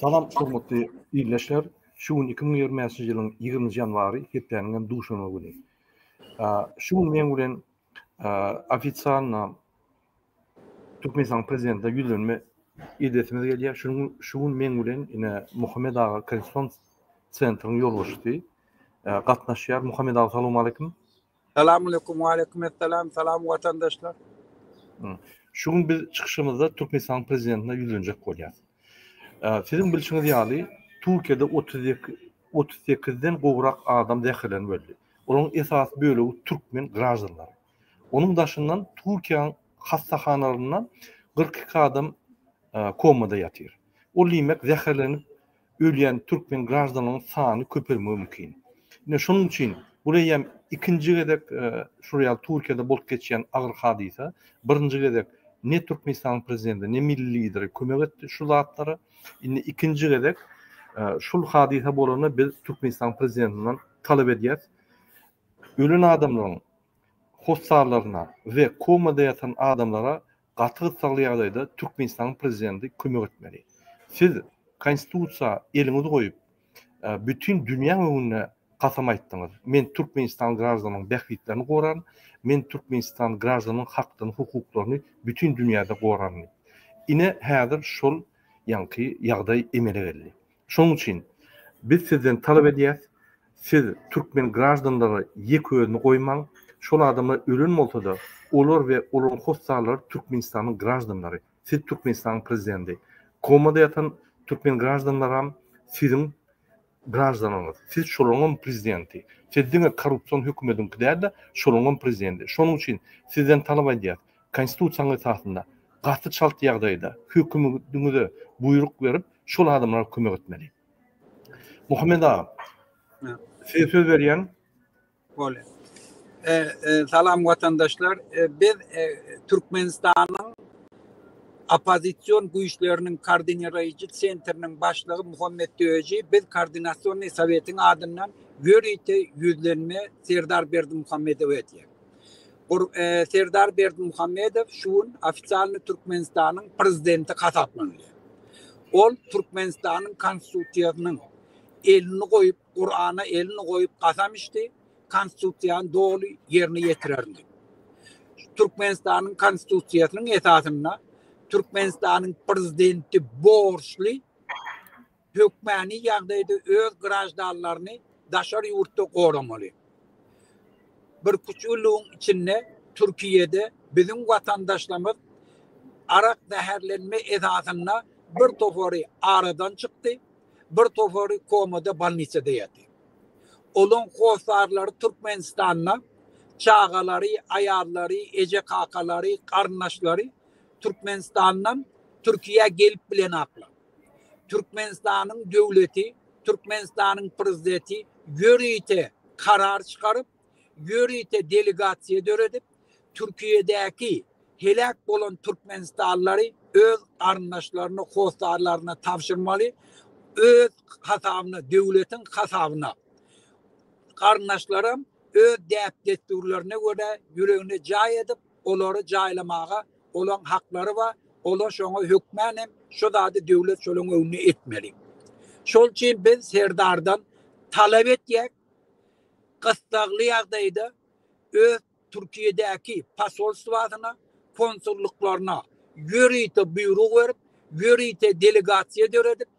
Salam hormatly ildeşler. Şu gün 2025-nji ýylyň 20-nji ýanwary, hepdäniň hem duşenbe güni. Şu gün men bilen ofitsialna Türkmenistanyň Prezidentine ýüzlenme edesimiz gelýär. Şu gün, şu gün meň bilen ine Muhammed aga Kensington Centeriň ýolbaşçysy e, gatnaşýar. Muhammed aga, salam aleýkum. Salam aleýkum, aleýkum assalam, salam watandaşlar. Şu gün biz çykyşymyzda Türkmenistanyň Prezidentine ýüzlenjek bolýarys. E, siziň bilşiňiz ýaly, Türkiýede 32 38-den gowrak adam zäherlenip öldi. Olaryň esasy bölegi türkmen graždanlary. Onuň daşyndan Türkiýäň hassahanalarynda kyrk iki adam komada ýatyr. Ol diýmek, zäherlenip ölýän türkmen graždanlaryň sany köpelmegi mümkin. Ine, şonuň üçin bul eýýäm ikinji gezek şol ýaly Türkiýede bolup geçýän agyr hadysa. Birinji gezek ne Türkmenistanyň prezidenti, ne milli lideri kömek etdi şu zatlara. Indi ikinji gezek şul hadysa bolanda biz Türkmenistanyň prezidentinden talap edýäris. Ölen adamlaryň hossarlaryna we komada ýatan adamlara gaty gyssagly ýagdaýda Türkmenistanyň Prezidenti kömek etmeli. Siz Konstitusiýa eliňizi goýup, bütin dünýäň öňünde kasam aýtdyňyz, Men Türkmenistan graždanyň bähbitlerini goraryn, men Türkmenistan graždanyň hakdyny, hukuklaryny bütin dünýäde goraryn diýip. Ine, häzir şol ýaňky ýagdaý emele geldi. Şonuň üçin, biz sizden talap edýäs, siz türkmen graždanlary ýek özüni goýmaň, şol adamlar ölen bolsa-da, olar we olaryň hossarlary Türkmenistanyň graždanlary, siz Türkmenistanyň prezidenti. Komada ýatan türkmen graždanlaram siziň graždanyňyz, siz şolaryňam prezidenti. Siz diňe korrupsion hökümediňki däl-de, şolaryňam prezidenti. Şonuň üçin, sizden talap edýäs, Konstitusiýanyň esasynda gaty çalt ýagdaýda hökümiňize buýruk berip şol adamlara kömek etmeli. Muhammet aga. Size söz berýän. Bolýar. Salam watandaşlar. Biz Türkmenistanyň oppozision güýçleriniň koordiniraýjy sentriniň başlygy Muhammet Döji biz koordinasionnyý sowetiň adyndan ýörite ýüzlenme Serdar Berdimuhamedowa edýär. Serdar Berdimuhamedow şu gün ofisialny Türkmenistanyň Prezidenti hasaplanylýar. Ol Türkmenistanyň Konstitusiýasynyň elini goýup, Kurana elini goýup kasam içdi, Konstitusiýany doly ýerine ýetirerin diýip. Türkmenistanyň Konstitusiýasynyň esasynda Türkmenistanyň Prezidenti borçly hökmany ýagdaýda öz graždanlaryny daşary ýurtda goramaly. Birküç ýyllygyň içinde Türkiýede biziň watandaşlarymyz arak zäherlenme esasynda bir topary aradan çykdy, bir topary komada bolnisada ýatyr. Olaň hossarlary Türkmenistanda, çagalary, aýallary, eje-kakalary, garyndaşlary Türkmenistandan Türkiýä gelip bilenaklar. Türkmenistanyň döwleti, Türkmenistanyň Prezideti ýörite karar çykaryp, ýörite delegasiýa döredip, Türkiýedäki heläk bolan türkmenistanlary öz garyndaşlaryna, hossarlaryna tabşyrmaly, öz hasabyna, döwletiň hasabyna. Garyndaşlaram öz däp-dessurlaryna görä ýüregine jaý edip, olary jaýlamaga Olaň haklary bar, ola şoňa hökmän hem şo zady döwlet şolaň öňüne etmeli. Şol üçin biz Serdardan talap etýäk, gyssagly ýagdaýda öz Türkiýedäki posolstwasyna, konsullyklaryna ýörite buýruk berip, ýörite delegasiýa döredip,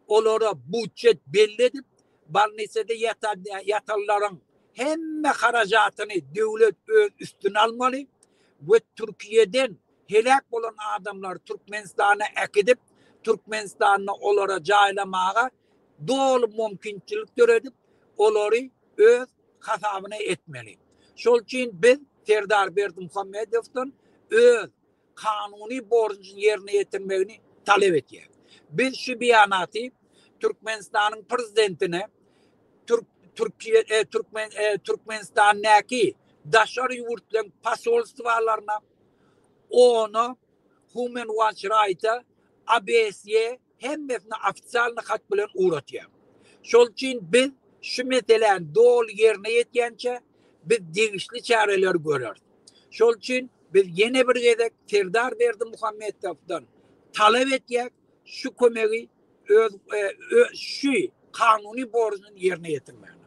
olara budjet belli edip, Bolnisada ýatanlaryň hemme harajatyny döwlet öz üstüne almaly we Türkiýeden heläk bolan adamlary Türkmenistana äkidip, Türkmenistanda olara jaýlamaga doly mümkinçilik döredip, olary öz hasabyna etmeli. Şol üçin biz Serdar Berdimuhamedowdan öz kanuny borjuny ýerine ýetirmegini talap edýär. Biz şu beýanaty Türkmenistanyň Prezidentine Türkmenistandaky daşary ýurtlaryň posolstwalaryna, OON-a, Human Watch Rights-a, ABS-e, hemmesini ofitsialny hat bilen ugratýar. Şol üçin biz şu meseläni doly ýerine ýetýänçä biz degişli çäreleri göreris. Şol üçin biz ýene bir gezek Serdar Berdimuhamedowdan talap etýäk, şu kömegi öz şu kanuny borjuny ýerine ýetirmäge.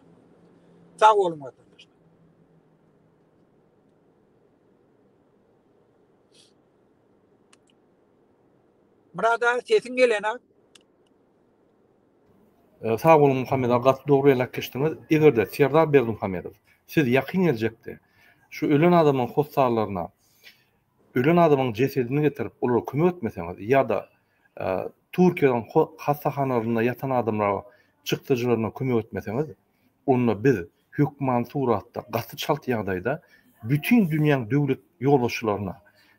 Sag boluň watandaşlar. Murad aga sesiň gelena. E, sag boluň Muhammed aga, gaty dogry belläp geçdiňiz. Eger-de Serdar Berdimuhamedow siz ýakyn geljekde şu ölen adamyň hossarlaryna ölen adamyň jesedini getirip olara kömek etmeseňiz ýa-da e, Türkiýäniň hassahanalarynda ýatan adamlara çykdajylaryna kömek etmeseňiz, onda biz hökmany suratda gaty çalt ýagdaýda bütin dünýäň döwlet ýolbaşçylaryna,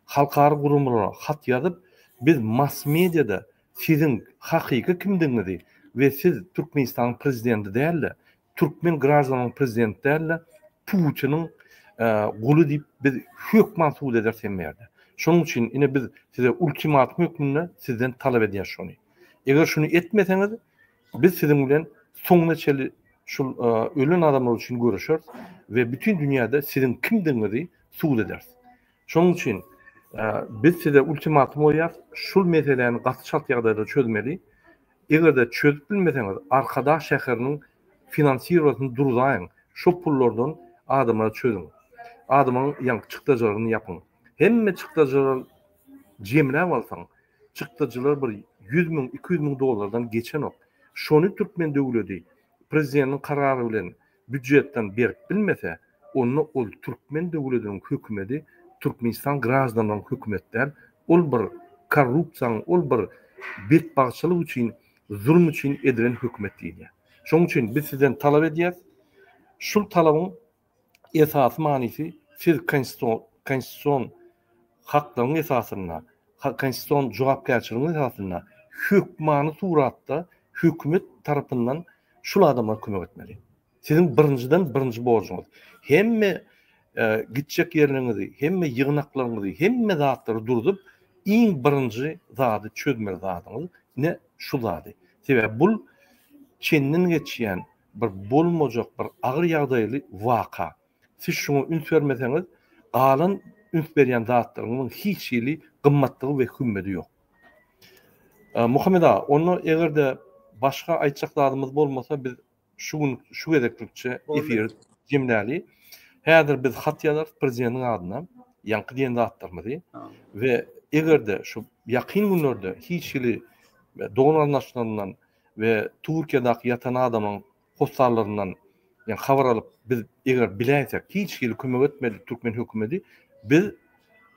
halkara guramalara hat ýazyp, biz mass-mediada siziň hakyky kimdigiňizi we siz Türkmenistanyň prezidenti däl-de, türkmen graždanynyň prezidenti däl-de, Putiniň guly diýip biz hökman subut ederis hem ýerde. Şonuň üçin ine biz size ultimatum hökmünde sizden talap edýäs şony. Eger şuny etmeseňiz, Biz siziň bilen soňuna çenli şul ölen adamlar üçin göreşeris we bütin dünýäde siziň kimdigiňizi subut ederis. Şonuň üçin biz size ultimatum goýýarys, şul meseläni gaty çalt ýagdaýda çözmeli. Eger-de çözüp bilmeseňiz, Arkadag şäheriniň finansirowanyny durzaýyň, şo pullardan adamlary çözüň. Adamlaryň ýaňky çykdajylaryny ýapyň. Hemme çykdajylary jemläp alsaň, Çykdajylar bir ýüz müň, iki ýüz müň dollardan geçenok. Şony türkmen döwledi prezidentiň karary bilen býujetden berip bilmese, onda ol türkmen döwlediniň hökümedi Türkmenistan graždanlaryň hökümet däl, ol bir korrupsiýaň, ol bir betbagtçylyk üçin, zulum üçin edilen hökümet diýilýär. Şonuň üçin biz sizden talap edýäs, şul talabyň esasy manysy siz konstitusion haklaryň esasynda, konstitusion jogapkärçiligiň esasynda hökmany suratda hökümet tarapyndan şul adamlara kömek etmeli. Siziň birinjiden birinji borjuňyz hemme gitjek ýerleriňizi, hemme ýygnaklaryňyzy, hemme zatlary durzup, iň birinji zady çözmeli zadyňyz ine şu zady. Sebäbi bul çenden geçýän bir bolmajak bir agyr ýagdaýly waka. Siz şuňa üns bermeseňiz, galan üns berýän zatlaryňyzyň hiç hili gymmatlygy we hümmedi ýok. Muhammet aga, onda eger-de başga aýtjak zadymyz bolmasa, biz şu gün şu gezeklikçe efiri jemläli. Häzir biz hat ýazarys prezidentiň adyna ýaňky diýen zatlarymyzy we eger-de şu ýakyn günlerde hiç hili dogan-garyndaşlaryndan we Türkiýedäki ýatan adamyň hossarlaryndan ýa habar alyp biz eger biläýsek hiç hili kömek etmedik türkmen hökümedi biz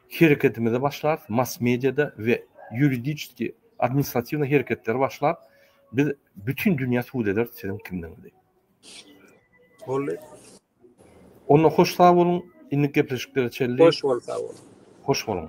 hereketimize başlarys mass mediada we ýuridiçeski administratiwny hereketleri başlap biz bütin dünýä subut ederis siziň kimdigiňizi. Boldy. Onda hoş sag boluň indik gepleşiklere çelli. Hoş bol sag bol. Hoş boluň.